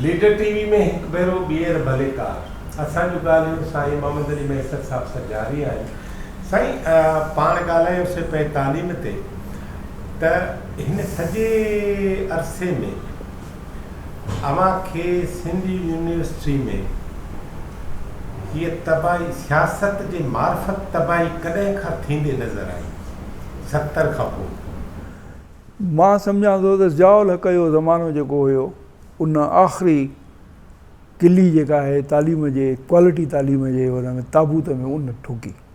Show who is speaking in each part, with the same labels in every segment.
Speaker 1: Leader TV ۾ هڪ ڀيرو ٻيهر ڀلي ڪار اسان جون ڳالهيون سائين محمد علي ميسر صاحب سان جاري آهن سائين پاڻ ڳالهايو سي پئي تعليم تي ته هن سڄي عرصي ۾ اوهان کي سنڌ يونيورسٽي ۾ هيء تباهي سياست جي معرفت تباهي ڪڏهن کان ٿيندي نظر آئي؟ ستر کان پوء.
Speaker 2: مان سمجهان ٿو ته ضياء الحق جو زمانو جيڪو هيو ان آخري ڪلي جيڪا آهي تعليم جي ڪوالٽي تعليم جي ان ۾ تابوت ۾ ان ٺوڪي.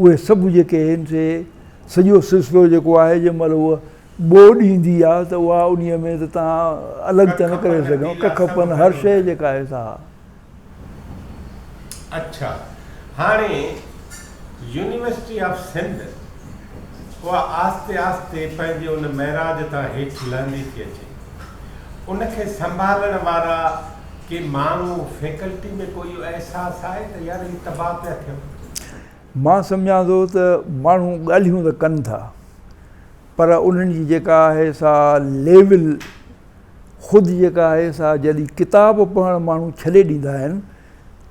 Speaker 2: اهي سڀ جيڪي هن سي سڄو سلسلو جيڪو آهي جنهن مهل هوء ٻوڏ ايندي آ ته اها انهيء ۾ ته تان الڳ ته نه ڪري سگهن ڪک پن هر شيء جيڪا آهي سا ها. اڇا
Speaker 1: هاڻي يونيورسٽي آف سنڌ اها آهستي آهستي پنهنجي ان معراج تان هيٺ لهندي ٿي اچي ان کي سنڀالڻ وارا ڪي ماڻهو فيڪلٽي ۾ ڪو اهو احساس آهي ته يار هي تباهه
Speaker 2: پيا ٿيون؟ مان سمجهان ٿو ته ماڻهو ڳالهيون ته ڪن ٿا پر انهن جي جيڪا آهي سا ليول خود جيڪا آهي سا جڏهن ڪتاب پڙهڻ ماڻهو ڇڏي ڏيندا آهن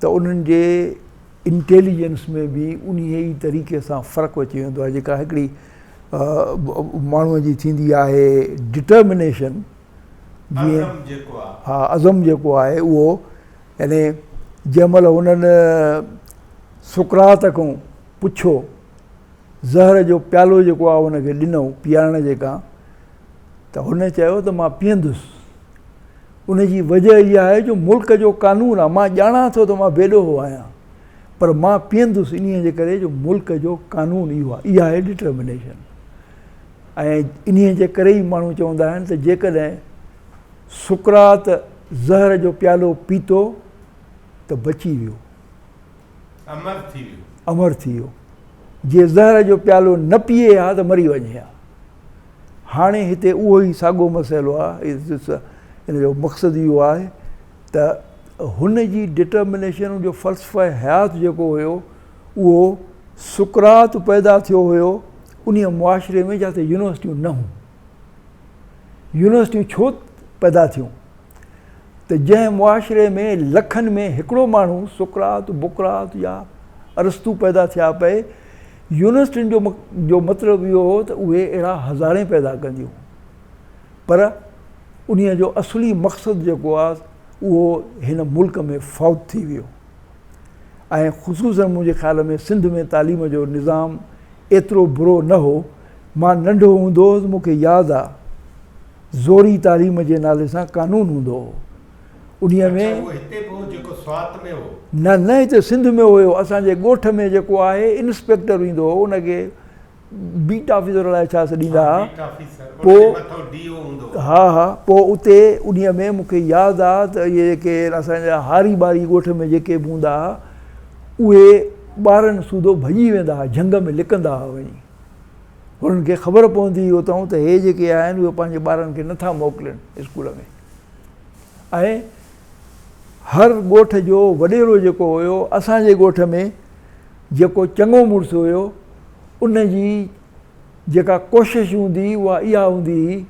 Speaker 2: ته انهن جي انٽيليجنس ۾ به انهيء ئي طريقي سان فرق اچي ويندو آهي جيڪا هڪڙي ماڻهو جي ٿيندي آهي ڊٽرمنيشن جيئن ها عزم جيڪو آهي اهو يعني جنهن مهل هنن سقراط کان پڇيو زهر جو پيالو جيڪو آهي هن کي ڏنئون پيارڻ جي ڪا ته هن چيو ته مان پيئندس ان جي وجه اها آهي جو ملڪ جو قانون آهي مان ڄاڻان ٿو ته مان بيڏوهو آهيان پر مان پيئندس انهي جي ڪري جو ملڪ جو قانون اهو آهي اها آهي ڊٽرمنيشن ۽ انهيء جي ڪري ئي ماڻهو چوندا آهن ته جيڪڏهن سقراط زهر جو پيالو پيتو ته بچي ويو. امر ٿي ويو. امر ٿي ويو. جي زهر جو پيالو نه پيئي ها ته مري وڃي ها. هاڻي هتي اهو ئي ساڳو مسئلو آهي. ان جو مقصد اهو آهي. ته هن جي Determination جو فلسفه حيات جيڪو هيو اهو سقراط پيدا ٿيو هيو انهيء معاشري ۾ جتي يونيورسٽيون نه هون. يونيورسٽيون ڇو پيدا ٿيون ته جنهن معاشري ۾ لکن ۾ هڪڙو ماڻهو سقراط، بقراط يا ارسطو پيدا ٿيا پئي يونيورسٽين جو مطلب اهو هو ته اهي اهڙا هزارين پيدا ڪنديون. پر انهيء جو اصلي مقصد جيڪو آ اهو هن ملڪ ۾ فوت ٿي ويو ۽ خصوصاً منهنجي خيال ۾ سنڌ ۾ تعليم جو نظام ايترو برو نه هو مان ننڍو هوندو هوس مون کي ياد آ زوري تعليم جي نالي سان قانون هوندو هو انهيء اڇا ۾ اهو هتي به هو جيڪو سوات ۾ هو؟ نه نه هتي سنڌ ۾ هيو اسان جي ڳوٺ ۾ جيڪو آهي انسپيڪٽر ايندو هو ان کي بيٽ آفيسر الاء ڇا سڏيندا ها پوء ها ها پوء اتي انهي ۾ مون کي ياد آ ته اهي جيڪي اسان جا هاري ٻاري ڳوٺ ۾ جيڪي به هوندا ها اهي ٻارن سوڌو ڀڄي ويندا ها جهنگ ۾ لڪندا ها وڃي هنن کي خبر پوندي هئي اتان ته هي جيڪي آهن اهي پنهنجي ٻارن کي نه ٿا موڪلين اسڪول ۾ ۽ هر ڳوٺ جو وڏيرو جيڪو هيو اسان جي ڳوٺ ۾ جيڪو چڱو مڙس هيو، ان جي جيڪا ڪوشش هوندي اها اها هوندي هئي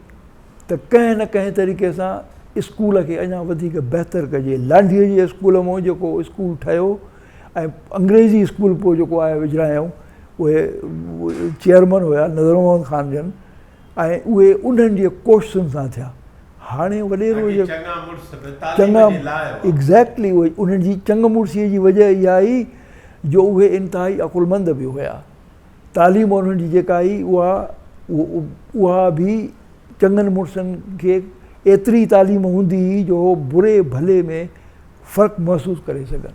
Speaker 2: ته ڪنهن نه ڪنهن طريقي سان اسڪول کي اڃا وڌيڪ بهتر ڪجي. لانڍيء جي اسڪول مون جيڪو اسڪول ٺهيو ۽ انگريزي اسڪول پوء جيڪو آء وجرايائون اهي چيئرمن هيا نظر محمد خان جن. ۽ اهي انهن جي ڪوششن سان ٿيا. هاڻي وڏيرو جي چڱا مڙس به تعليم جي لاء هئا. ايگزيڪٽلي انهن جي چڱ مڙسيء جي وجه اها هئي جو اهي انتهائي عقلمند به هيا. تعليم انهن جي جيڪا هئي اها اها به چڱن مڙسن کي ايتري تعليم هوندي هئي جو هو بري ڀلي ۾ فرق محسوس ڪري سگهن.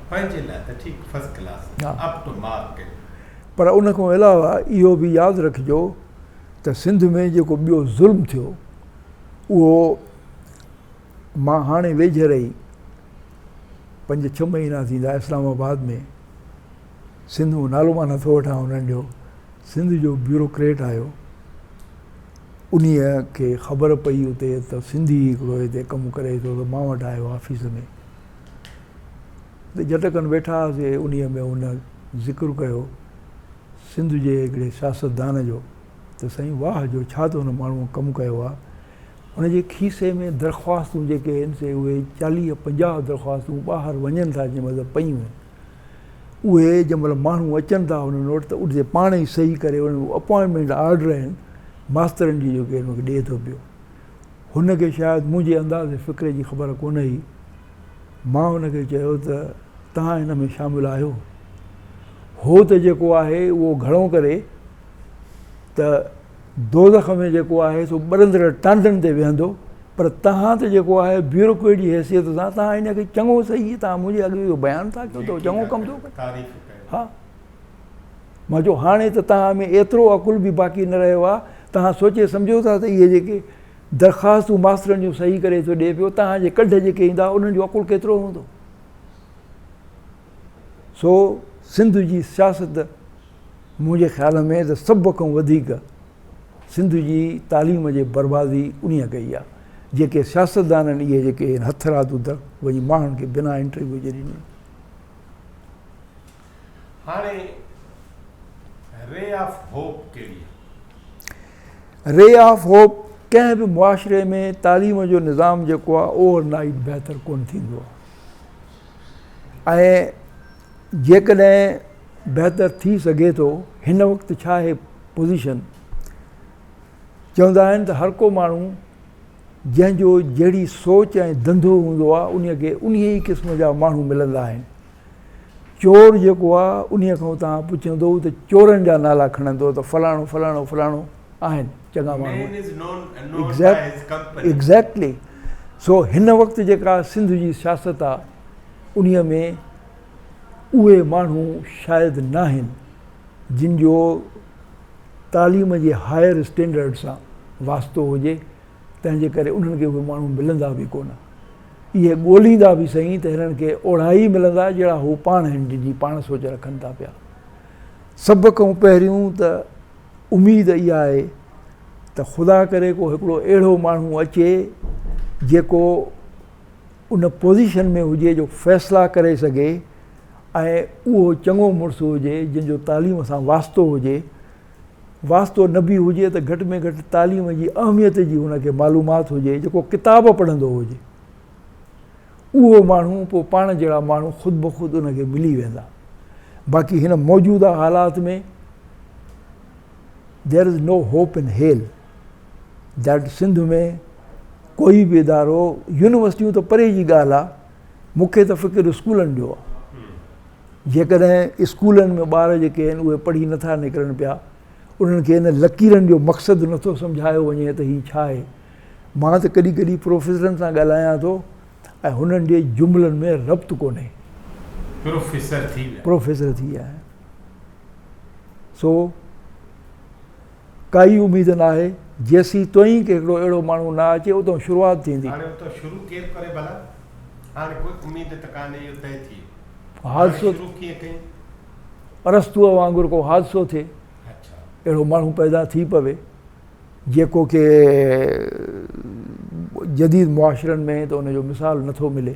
Speaker 2: پنهنجي
Speaker 1: لاء ته ٺيڪ first class up to mark. پر ان
Speaker 2: کان علاوه اهو به ياد رکجو ته سنڌ ۾ جيڪو ٻيو ظلم ٿيو اهو مان هاڻي ويجهڙ ئي پنج ڇهه مهينا ٿيندا اسلام آباد ۾ سنڌ مان نالو مان نٿو وٺان انهن جو سنڌ جو بيوروڪريٽ آيو انهي کي خبر پئي اتي ته سنڌي هڪڙو هتي ڪم ڪري ٿو ته مان وٽ آيو آفيس ۾ تي جٽڪن ويٺا هئاسي، انهيء ۾ هن ذڪر ڪيو سنڌ جي هڪڙي سياستدان جو ته سائين واهه جو ڇا ته هن ماڻهوء ڪم ڪيو آ، هن جي کيسي ۾ درخواستون جيڪي هين سي اهي چاليهه پنجاهه درخواستون ٻاهر وڃن ٿا جنهن مٿان پيون هين، اهي جنهن مهل ماڻهو اچن ٿا هنن وٽ ته اتي پاڻ ئي صحيح ڪري انهن اپوائنٽمينٽ آرڊر هين ماسترن جي جيڪي هن کي ڏئي ٿو پيو. هن کي شايد منهنجي انداز فڪري جي خبر ڪونه هئي. مان هن کي چيو ته توهان هن ۾ شامل آهيو. هو ته جيڪو آهي اهو گهڻو ڪري ته دوزخ ۾ جيڪو آهي سو ٻرندڙ ٽانڊن تي ويهندو پر توهان ته جيڪو آهي بيوروڪريٽ جي حيثيت سان توهان هن کي چڱو سهي توهان منهنجي اڳ اهو بيان ٿا ڪيو ته هو چڱو ڪم ٿو ڪري. ها. مان چيو هاڻي ته توهان ۾ ايترو عقل به باقي نه رهيو آهي، توهان سوچي سمجهو ٿا ته اهي جيڪي درخواستون ماسترن جون صحيح ڪري ٿو ڏئي پيو، توهان جي ڪڍ جيڪي ايندا انهن جو عقل ڪيترو هوندو؟ سو سنڌ جي سياست منهنجي خيال ۾ ته سڀ کان وڌيڪ سنڌ جي تعليم جي بربادي انهيء ڪئي آهي، جيڪي سياستدانن اهي جيڪي هٿرادو وڃي ماڻهن کي بنا انٽرويو جي ڏنيون.
Speaker 1: هاڻي ري آف هوپ ڪهڙي
Speaker 2: آهي؟ ري آف هوپ ڪنهن به معاشري ۾ تعليم جو نظام جيڪو آهي اوور نائيٽ بهتر ڪونه ٿيندو آهي ۽ جيڪڏهن بهتر ٿي سگهي ٿو هن وقت ڇا هي پوزيشن چوندا آهن ته هر ڪو ماڻهو جنهن جو جهڙي سوچ ۽ ڌنڌو هوندو آهي ان کي انهي ئي قسم جا ماڻهو ملندا آهن چور جيڪو آ انهي کان اتان پڇندو ته چورن جا نالا کڻندو ته فلاڻو فلاڻو فلاڻو آهن چڱا ماڻهو ايگزيڪٽلي سو هن وقت جيڪا سنڌ جي سياست آ انهي ۾ اهي ماڻهو شايد ناهن جن جو تعليم جي هائر اسٽينڊرڊ سان واسطو هجي تنهن جي ڪري انهن کي اهي ماڻهو ملندا به ڪونه. اهي ڳوليندا به سهي ته هنن کي اوڙا ئي ملندا جهڙا هو پاڻ آهن جن جي پاڻ سوچ رکن ٿا پيا. سڀ ڪئون پهريون ته اميد اها آهي ته خدا ڪري ڪو هڪڙو اهڙو ماڻهو اچي جيڪو ان پوزيشن ۾ هجي جو فيصلا ڪري سگهي ۽ اهو چڱو مڙس هجي جن جو تعليم سان واسطو هجي. واسطو نبي هجي ته گهٽ ۾ گهٽ تعليم جي اهميت جي هن کي معلومات هجي جيڪو ڪتاب پڙهندو هجي اهو ماڻهو پوء پاڻ جهڙا ماڻهو خود بخود ان کي ملي ويندا باقي هن موجوده حالات ۾ دير از نو هوپ ان هيل ڊيٽ سنڌ ۾ ڪوئي به ادارو يونيورسٽيون ته پري جي ڳالهه آهي مون کي ته فڪر اسڪولن جو آهي. جيڪڏهن اسڪولن ۾ ٻار جيڪي آهن اهي پڙهي نٿا نڪرن پيا، انهن کي انهن لڪيرن جو مقصد نٿو سمجهايو وڃي ته هي ڇا آهي. مان ته ڪڏهن ڪڏهن پروفيسرن سان ڳالهايان ٿو ۽ هنن جي جملن ۾ ربط ڪونهي. پروفيسر ٿي ويا آهن. سو. ڪائي اميد ناهي، جيسين توهين کي هڪڙو اهڙو ماڻهو نه اچي، اتئون شروعات ٿيندي. هاڻي اتئون شروع ڪير ڪري ڀلا؟ هاڻي ڪوئي اميد ته ڪانهي، اهو طئي ٿئي ويو. هاڻي حادثو شروع ڪيئن ڪئين؟ ارسطوء وانگر ڪو حادثو ٿئي، اڇا. اهڙو ماڻهو پيدا ٿي پوي، جيڪو ڪي جديد معاشرن ۾ ته ان جو مثال نٿو ملي.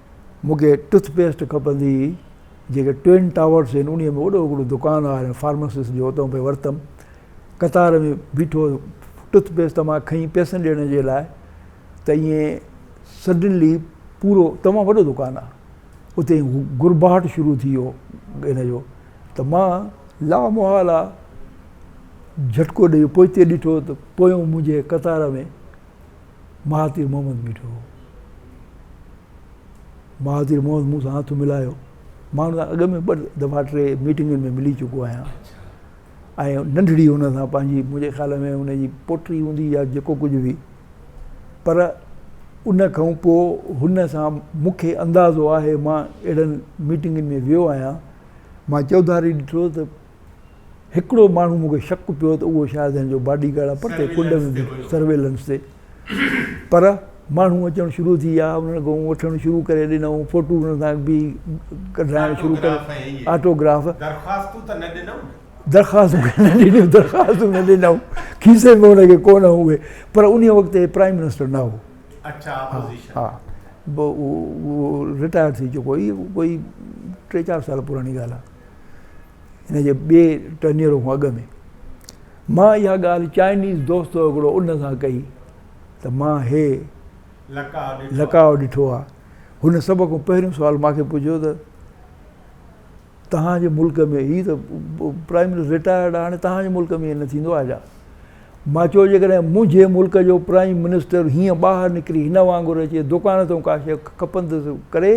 Speaker 2: مون کي ٽٿ پيسٽ کپندي هئي، جيڪي ٽوئن ٽاورس هن انهيء ۾ وڏو هڪڙو دڪان آهي ۽ فارمسسٽ جو اتان پئي ورتم. قطار ۾ بيٺو ٽٿ پيسٽ تان مان کنئي پئسن ڏيڻ جي لاء ته ائين سڊنلي پورو تمام وڏو دڪان آهي. اتي گرباهٽ شروع ٿي ويو ان جو ته مان لا محاله جهٽڪو ڏيئي پوئتي ڏٺو ته پويون منهنجي قطار ۾ مهاتير محمد بيٺو هو. مهاتير محمد مون سان هٿ ملايو. مان هن سان اڳ ۾ ٻه دفعا ٽي ميٽنگن ۾ ملي چڪو آهيان ۽ ننڍڙي هن سان پنهنجي منهنجي خيال ۾ هن جي پوٽري هوندي يا جيڪو ڪجهه هئي پر ان کان پوء هن سان مون کي اندازو آهي مان اهڙن ميٽنگن ۾ ويو آهيان مان چوڌاري ڏٺو ته هڪڙو ماڻهو مون کي شڪ پيو ته اهو شايد هن جو باڊي گارڊ آهي پرتي ڪنڊ ۾ بيهي سرويلنس تي پر ماڻهو اچڻ شروع ٿي ويا انهن کان وٺڻ شروع ڪري ڏنائون فوٽو انهن سان بيهي ڪڍرائڻ شروع ڪري آٽو گراف درخواستون ته نه ڏنائون نه درخواستون ته نه ڏنائون درخواستون نه ڏنائون کيسي ۾ هن کي ڪونه هئي پر انهي وقت هي پرائيم منسٽر نه هو اچا اپوزيشن ها ها رٽائر ٿي چڪو هو ڪوئي ٽي چار سال پراڻي ڳالهه آهي ان جي ٻئي ٽنيرو کان اڳ ۾، مان اها ڳالهه چائنيز دوست هڪڙو ان سان ڪئي ته مان هي لقاء ڏٺو آهي. هن سڀ کان پهريون سوال مان کي پڇيو ته توهان جي ملڪ ۾ هي ته پرائيم منسٽر رٽائرڊ آهي هاڻي توهان جي ملڪ ۾ ائين نه ٿيندو آهي ڇا؟ مان چيو جيڪڏهن منهنجي ملڪ جو پرائيم منسٽر هيئن ٻاهر نڪري هن وانگر اچي دڪان تان ڪا شيء کپندس ڪري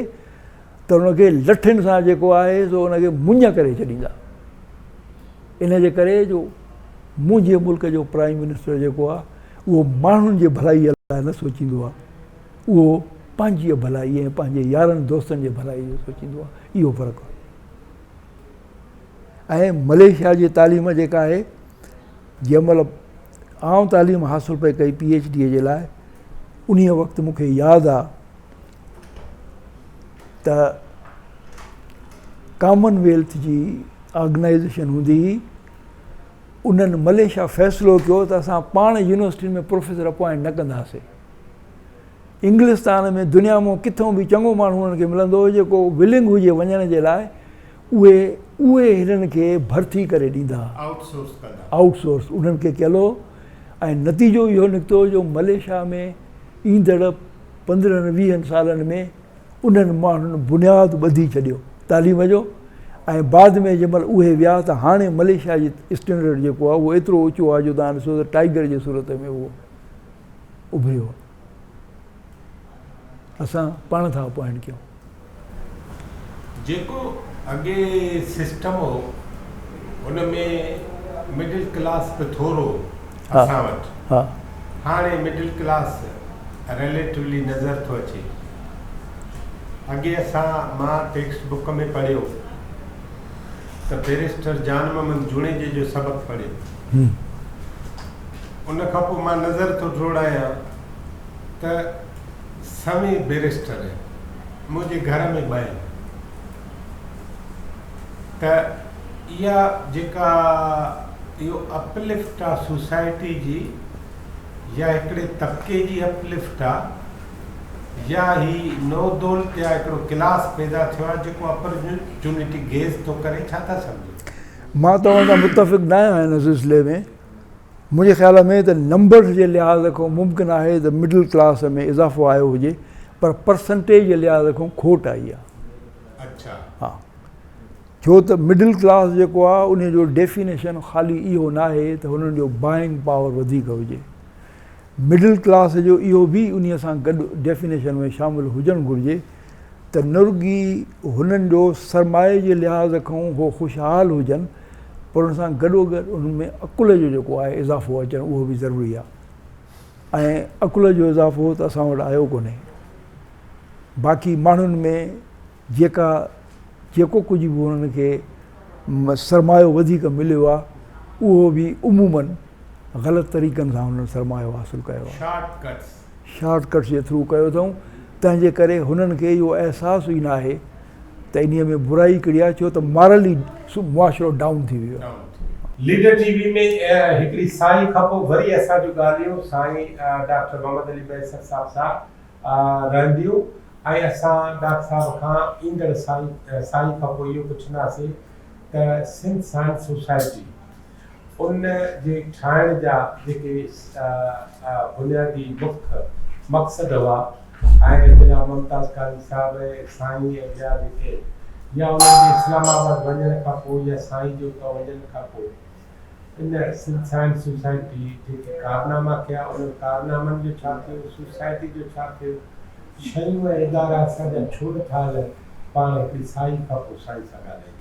Speaker 2: ته ان کي لٺين سان جيڪو آهي سو ان کي مڃ ڪري ڇڏيندا ان جي ڪري جو منهنجي ملڪ جو پرائم منسٽر جيڪو آهي اهو ماڻهن جي ڀلائي لاء نه سوچيندو آهي اهو پنهنجي ڀلائي ۽ پنهنجي يارن دوستن جي ڀلائي جو سوچيندو آهي اهو فرق آهي ۽ مليشيا جي تعليم جيڪا آهي جنهن مهل آئون تعليم حاصل پئي ڪئي پي ايچ ڊي جي لاء انهيء وقت مونکي ياد آهي ته ڪامن ويلٿ جي آرگنائيزيشن هوندي هئي، انهن مليشيا فيصلو ڪيو ته اسان پاڻ يونيورسٽين ۾ پروفيسر اپوائنٽ نه ڪنداسين. انگلستان ۾ دنيا مان ڪٿئون به چڱو ماڻهو انهن کي ملندو هو جيڪو ولنگ هجي وڃڻ جي لاء اهي اهي هنن کي ڀرتي ڪري ڏيندا، آئوٽ سورس ڪندا. آئوٽ سورس انهن کي ڪيل هو ۽ نتيجو اهو نڪتو جو مليشيا ۾ ايندڙ پندرهن ويهن سالن ۾ انهن ماڻهن بنياد ٻڌي ڇڏيو تعليم جو ۽ بعد ۾ جنهن مهل اهي ويا ته هاڻي مليشيا جي اسٽينڊرڊ جيڪو آهي اهو ايترو اوچو آهي جو تان ڏسو ته ٽائيگر جي صورت ۾ اهو اڀريو آهي اسان پاڻ ٿا اپوائنٽ ڪيون جيڪو
Speaker 1: اڳي سسٽم هو ان ۾ مڊل ڪلاس به ٿورو هو اسان وٽ هاڻي مڊل ڪلاس ريليٽولي نظر ٿو اچي اڳي اسان مان ٽيڪسٽ بڪ ۾ پڙهيو ته بيرسٽر جان محمد جوڻيجي جو سبق پڙهيو ان کان پوء مان نظر ٿو ڊوڙايان ته سوين بئريسٽر منهنجي گهر ۾ ٻين ته اها جيڪا اهو اپلفٽ آ سوسائٽي جي يا هڪڙي طبقي جي اپلفٽ آ يا هي نو دولت يا هڪڙو ڪلاس پيدا ٿيو آ جيڪو اپرچونٽي گيز ٿو ڪري ڇا ٿا سمجهو. مان توهان سان
Speaker 2: متفق ناهيان هن سلسلي ۾. منهنجي خيال ۾ ته نمبرز جي لحاظ کان ممڪن آهي ته مڊل ڪلاس ۾ اضافو آيو هجي پر پرسنٽيج جي لحاظ کان کوٽ آئي آهي. ها ڇو ته مڊل ڪلاس جيڪو آهي انهي جو ڊيفينيشن خالي اهو ناهي ته هنن جو بائنگ پاور وڌيڪ هجي. مڊل ڪلاس جو اهو به انهي سان گڏ ڊيفينيشن ۾ شامل هجڻ گهرجي ته نه رڳي هنن جو سرمايي جي لحاظ کان هو خوشحال هجن پر ان سان گڏوگڏ انهن ۾ عقل جو جيڪو آهي اضافو اچڻ اهو به ضروري آهي ۽ عقل جو اضافو ته اسان وٽ آيو ڪونهي باقي ماڻهن ۾ جيڪا جيڪو ڪجهه به انهن کي سرمايو وڌيڪ مليو آهي اهو به عمومن غلط طريقن سان انهن سرمايو حاصل ڪيو آهي. شارٽ ڪٽس جي ٿرو ڪيو اٿئون تنهن جي ڪري هنن کي اهو احساس ئي ناهي ته انهي ۾ برائي ڪهڙي آهي ڇو ته مارلي معاشرو ڊائون ٿي ويو آهي. ليڊر ٽي وي
Speaker 1: ۾ هڪڙي ساهي کان پوء وري اسان جون ڳالهيون سائين ڊاڪٽر محمد علي مهيسر صاحب سان رهنديون ۽ اسان ڊاڪٽر صاحب کان ايندڙ سال ساهي کان پوء اهو پڇنداسين ته سنڌ سائنس سوسائٽي ان جي ٺاهڻ جا جيڪي بنيادي مک مقصد هئا ۽ جناب ممتاز قاضي صاحب ۽ سائين ۽ ٻيا جيڪي يا انهن جي اسلام آباد وڃڻ کان پوء يا سائين جي اتان وڃڻ کان پوء ان سنڌ سائنس سوسائٽي جيڪي ڪارناما ڪيا انهن ڪارنامن جو ڇا ٿيو سوسائٽي جو ڇا ٿيو شيون ۽ ادارا اسان جا ڇو نٿا هلن پاڻ هڪڙي سائين کان پوء سائين سان ڳالهائيندا